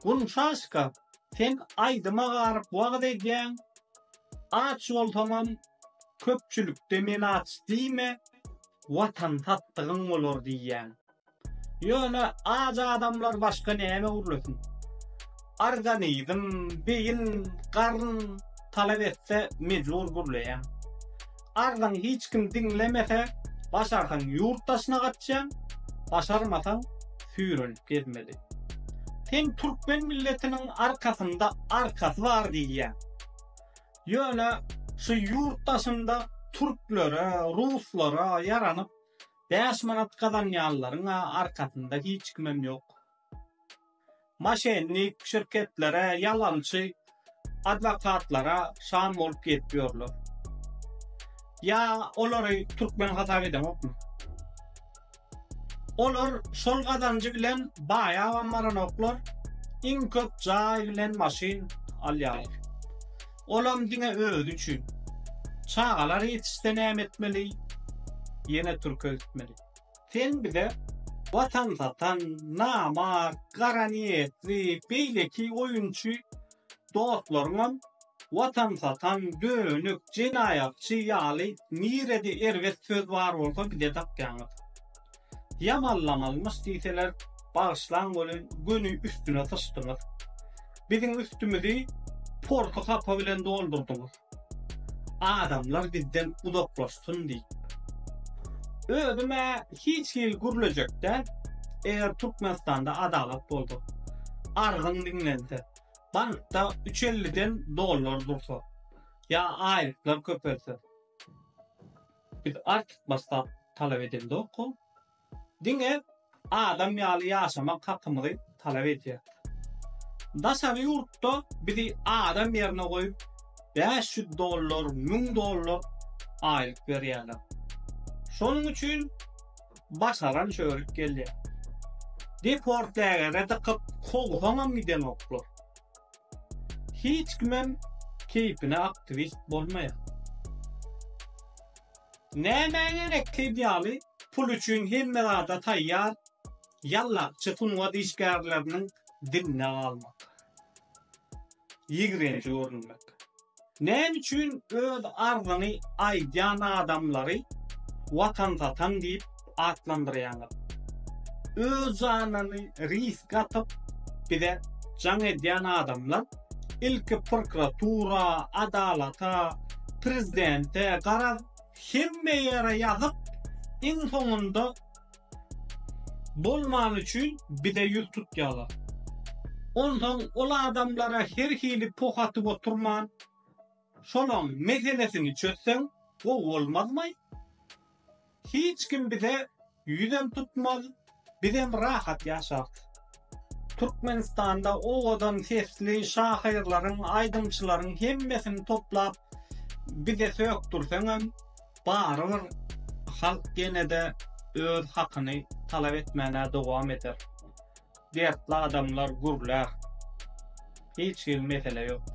Gunçaşka, sen aýdyma garyp wagyz edýäň, aç bolsaňam köpçülikde men aç diýme, watan satdygyň bolar diýýäň. Ýöne aç adamlar başga näme gürlesin? Organizm, beýin, garyn talap etse mejbur gürleýäň. Arzyňy hiç kim diňlemese, başarsaň ýurt daşyna gaçýaň, başarmasaň süýrenip gezmeli. Sen türkmen milletiniň arkasynda arkasy bar diýýäň. Ýöne şu ýurt daşynda türklere, ruslara ýaranyp bäş manat gazanýanlaryň-a arkasynda hiç kimem ýok. Maşennik şirketlere ýalançy adwokatlara şam bolup gezip ýörler. Ýa olary türkmen hasap edeňokmy? Olar şol gazanjy bilen baýabam baranoklar, iň köp jaý bilen maşyn alýarlar. Olam diňe özi üçin. Çagalar ýetişse näme etmeli? Ýene türke gitmeli. Sen bize watan satan, namart, gara niýetli, beýleki oýunçy dostlaryňam watan satan, dönük, jenaýatçy ýaly nirede erbet söz bar bolsa bize dakýaňyz. Ýamanlamalymyş diýseler bagyşlaň welin göni üstüne syçdyňyz. Biziň üstümizi porty hapa bilen doldurdyňyz. Adamlar bizden uzaklaşsyn diýip. Özüm-ä hiç hili gürlejek däl. Eger Türkmenistanda adalat bolsa, arzyň diňlense, bankda üç elliden dollar dursa, ýa aýlyklar köpelse, biz artykmaç zat talap edendoka. diňe adam ýaly ýaşamak hakymyzy talap edýär. Daşary ýurtda bizi adam ýerine goýup, bäş ýüz dollar, müň dollar aýlyk berýärler. Şonuň üçin başaran çörük gelýär. Deport lägere dykyp, kowsaňam gidenoklar. Hiç kimem keýpine aktiwist bolmaýar. Nämä gerekli ýaly pul üçin hemme zada taýýar ýallakçy sungat işgärleriniň diline galmak, ýigrenji görünmek. Näme üçin öz arzyňy aýdýan adamlary watan satan diýip atlandyrýaňyz? Öz janyny riske atyp bize jaň edýän adamlar ilki prokuratura, adalata, prezidente garaz Hemme ýere ýazyp iň soňunda bolmany üçin bize ýüz tutýalar. Onsoň ol adamlara her hili poh atyp oturman şolaň meselesini çözseň gowy bolmazmaý? Hiç kim bize Ýüzem tutmaz, bizem rahat ýaşarys. Türkmenistanda owadan sesli şahyrlaryň, aýdymçylaryň hemmesini toplap bize sökdürseňem, barybir halk ýene-de öz hakyny talap etmäne dowam eder. Dertli adamlar gürlär. Hiç hili mesele ýok.